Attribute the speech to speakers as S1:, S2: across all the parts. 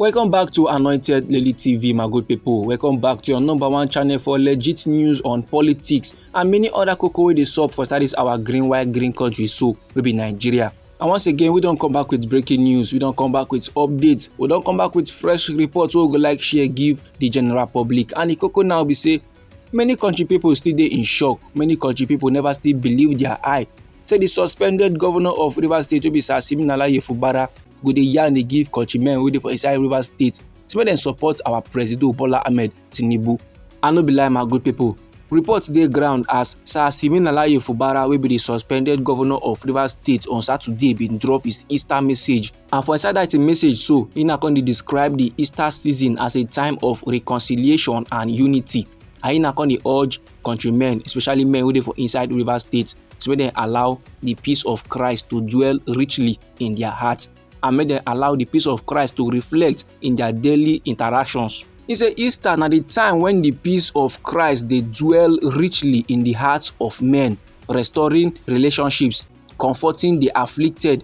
S1: Welcome back to Anointed Lady TV, my good people. Welcome back to your number one channel for legit news on politics and many other cocoa wey dey sup for studies our green white green country so wey be Nigeria. And once again, we don come back with breaking news, we don come back with updates, we don come back with fresh reports wey we go like share give the general public. And the cocoa now be say many kontri pipo still dey in shock many kontri pipo neva still believe dia eye say di suspended govnor of rivers state wey be sir siminalayi fubara go dey yarn dey give kontri-men wey dey for inside rivers state say make dem support our presido bola ahmed tinubu i no be lie my good pipo reports dey ground as sir siminalayi fubara wey be di suspended govnor of rivers state on saturday bin drop his easter message And for inside that message so, Ina come describe the Easter season as a time of reconciliation and unity. And Ina come urge countrymen, especially men who dey for inside River State, to make dem allow the peace of Christ to dwell richly in their heart and make dem allow the peace of Christ to reflect in their daily interactions. He say Easter na the time when the peace of Christ dey dwell richly in the hearts of men, restoring relationships, comforting the afflicted,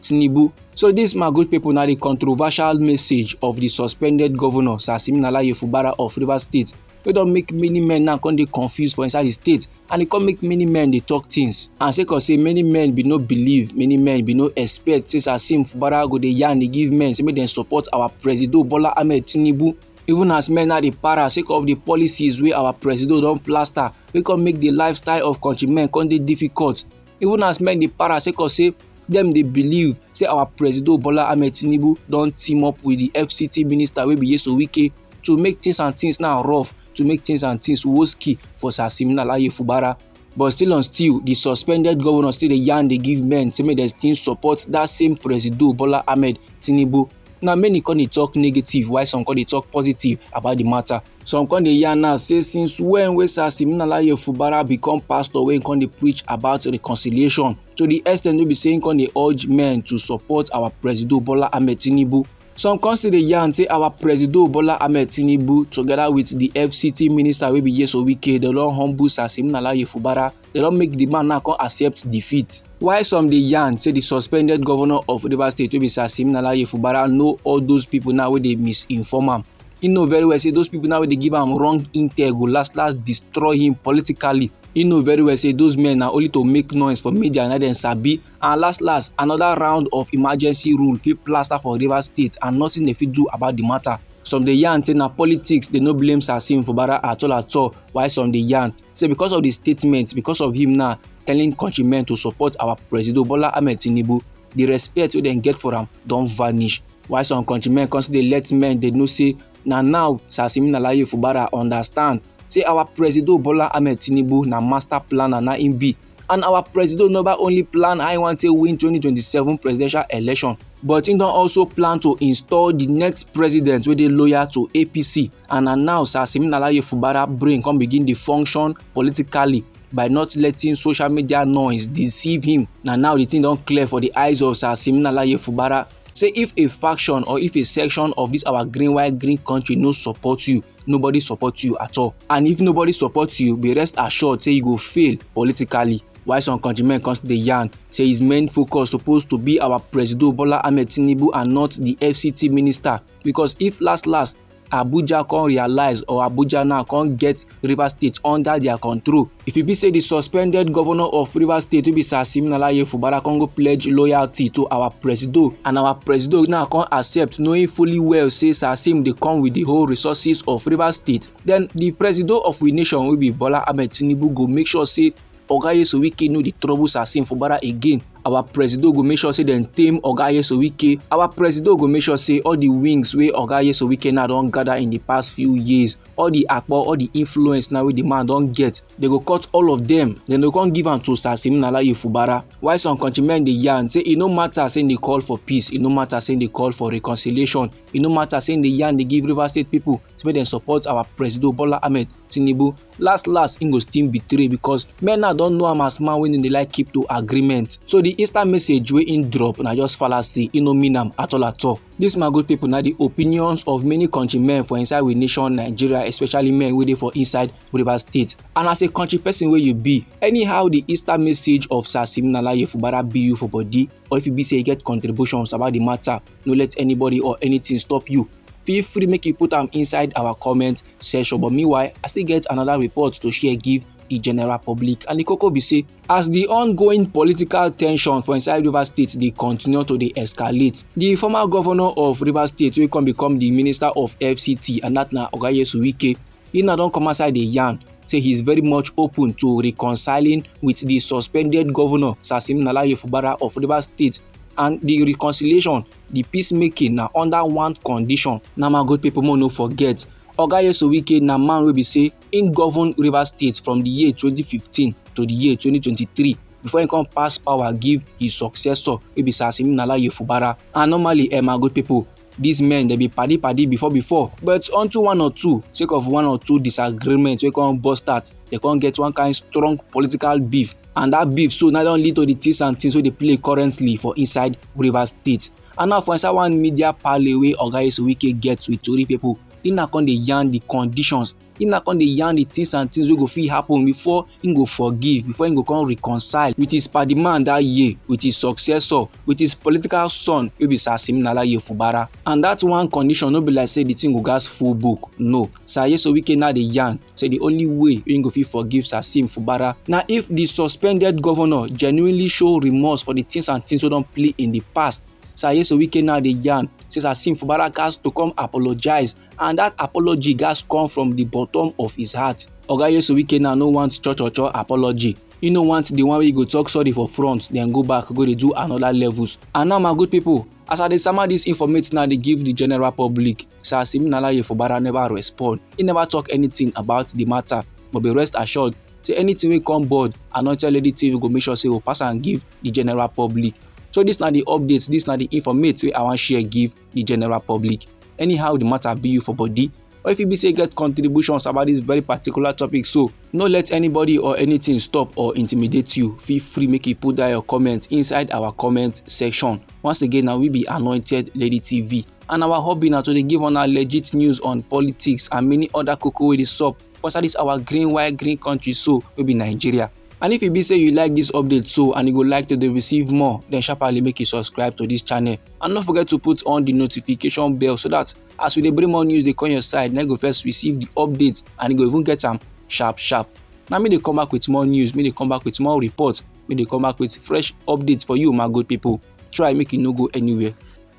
S1: Tinubu. So this Magoch people now the controversial message of the suspended governor Sir Siminala Yefubara of Rivers State wey don make many men now come dey confused for inside the state and e come make many men dey talk things and sake of say many men bin no believe many men bin no expect say Sir Sim Fubara go dey yarn dey give men say make dem support our presido Bola Ahmed Tinubu even as men now dey para sake of the policies wey our presido don plaster wey come make the lifestyle of countrymen come dey difficult even as men dey para sake of say dem dey believe say our presido bola ahmed tinubu don team up with di fct minister wey be yeso wike to make things and things now rough to make things and things woski for sir simina laye fubara but still on still di suspended govnor still dey yarn dey give men say make dem still support dat same presido bola ahmed tinubu na many come dey talk negative while some come dey talk positive about di matter Some come dey yarn now say since when wey Sir Siminalayi Fubara become pastor wey come dey preach about reconciliation to the extent wey be say he come dey urge men to support our Presido Bola Ahmed Tinubu. Some come still dey yarn say our Presido Bola Ahmed Tinubu together with the FCT minister wey be Yeso Wike dem don humble Sir Siminalayi Fubara dem don make di man now come accept defeat Why some dey yarn say the suspended governor of Rivers State wey be Sir Siminalayi Fubara know all those people now wey dey misinform am. He know very well say those people now wey dey give am wrong intel go last last destroy him politically. He know very well say those men na only to make noise for media na dem sabi and last last another round of emergency rule fit plaster for Rivers State and nothing dey fit do about the matter. Some dey yarn say na politics dey no blame Sir Sim Fubara at all at all while some dey yarn say because of di statement because of him now telling countrymen to support our president bola ahmed tinubu di respect wey dem get for am don vanish while some countrymen come still dey let men dey know say na now sir simina laye fubara understand say our president bola ahmed tinubu na master planner na im be and our presido neva only plan how e wan take win 2027 presidential election but im don also plan to install di next president wey dey loyal to apc and na now sir siminalayi fubara brain come begin dey function politically by not letting social media noise deceive him na now di thing don clear for di eyes of sir siminalayi fubara say if a faction or if a section of this our green white green country no support you nobody support you at all and if nobody support you be rest assured say you go fail politically while some countrymen come still dey yarn say his main focus suppose to be our presido bola ahmed tinubu and not the fct minister because if last last abuja come realize or abuja now come get rivers state under their control if e be say di suspended governor of rivers state wey be sir siminalayi fubara come go pledge loyalty to our presido and our presido now come accept knowing fully well say sir sim dey come with the whole resources of rivers state then the presido of we nation wey be bola ahmed tinubu go make sure say Oga Nyesom Wike no dey trouble Sasim Fubara again. Our presido go make sure say dem tame Oga Nyesom Wike. Our presido go make sure say all the wings wey Oga Nyesom Wike now don gather in the past few years, all the akpo, all the influence now wey the man don get, they go cut all of them. Then they come give am to Sasim Nalaye Fubara. Why some countrymen dey yarn say e no matter say they call for peace, e no matter say they call for reconciliation, e no matter say they yarn dey give Rivers State people say make dem support our presido Bola Ahmed Tinubu. last last im go still betray because men now don know am as man wey no dey like keep to agreement so the insta message wey im drop na just fallacy e no mean am at all at all This my good people na the opinions of many country men for inside we nation nigeria especially men wey dey for inside rivers state and as a country person wey you be anyhow the easter message of sir siminalayi fubara be you for body or if you be say you get contributions about the matter no let anybody or anything stop you feel free make you put am inside our comment session but meanwhile i still get another report to share give the general public and the koko be say as the ongoing political tension for inside rivers state dey continue to dey escalate the former governor of rivers state wey come become the minister of fct and that na oga yesu wike he na don come outside dey yarn say he is very much open to reconciling with the suspended governor sasim nalaye fubara of rivers state and the reconciliation di peace making na under one condition na my good people make no forget oga yeso wike na man wey be say im govern rivers state from di year 2015 to di year 2023 before im come pass power give im successor wey be sir siminala yefubara and normally eh my good people these men dey be padi padi before before but unto one or two sake of one or two disagreement wey come burst out dey come get one kind strong political beef and that beef so now don lead to the things and things wey dey play currently for inside rivers state and now for inside one media parley wey oga esuwike get with tori pipo he na come dey yarn the conditions he na come dey yarn the things and things wey go fit happen before he go forgive before he go come reconcile with his padi man that year with his successor with his political son wey be sir siminalayi fubara and that one condition no be like say the thing go gas full book no sir yeso wike now dey yarn say the only way wey go fit forgive sir sim fubara na if the suspended governor genuinely show remorse for the things and things wey don play in the past sir yeso wike now dey yarn say sir sim fubara gas to come apologize and dat apology gatz come from di bottom of his heart oga yesu wike now no want cho cho cho apology e no want the one wey go talk sorry for front then go back go dey do another levels and now my good people as i dey sama dis informate now dey give the general public sir siminalayi fubara never respond he never talk anything about the matter but be rest assured say anything wey come board anointed lady tv go make sure say we pass am give the general public so dis na the update dis na the informate wey i wan share give the general public. Anyhow the matter be you for body, or if you be say get contributions about this very particular topic so no let anybody or anything stop or intimidate you feel free make you put down your comment inside our comment section once again na we be anointed lady tv and our hobby na to dey give una legit news on politics and many other koko wey dey sup for inside this our green white green country so wey be nigeria and if e be say you like this update so and you go like to dey receive more then sharparly make you subscribe to this channel and no forget to put on the notification bell so that as we dey bring more news dey come your side na you go first receive the update and you go even get am sharp sharp na me dey come back with more news me dey come back with more report me dey come back with fresh updates for you my good people try make you no go anywhere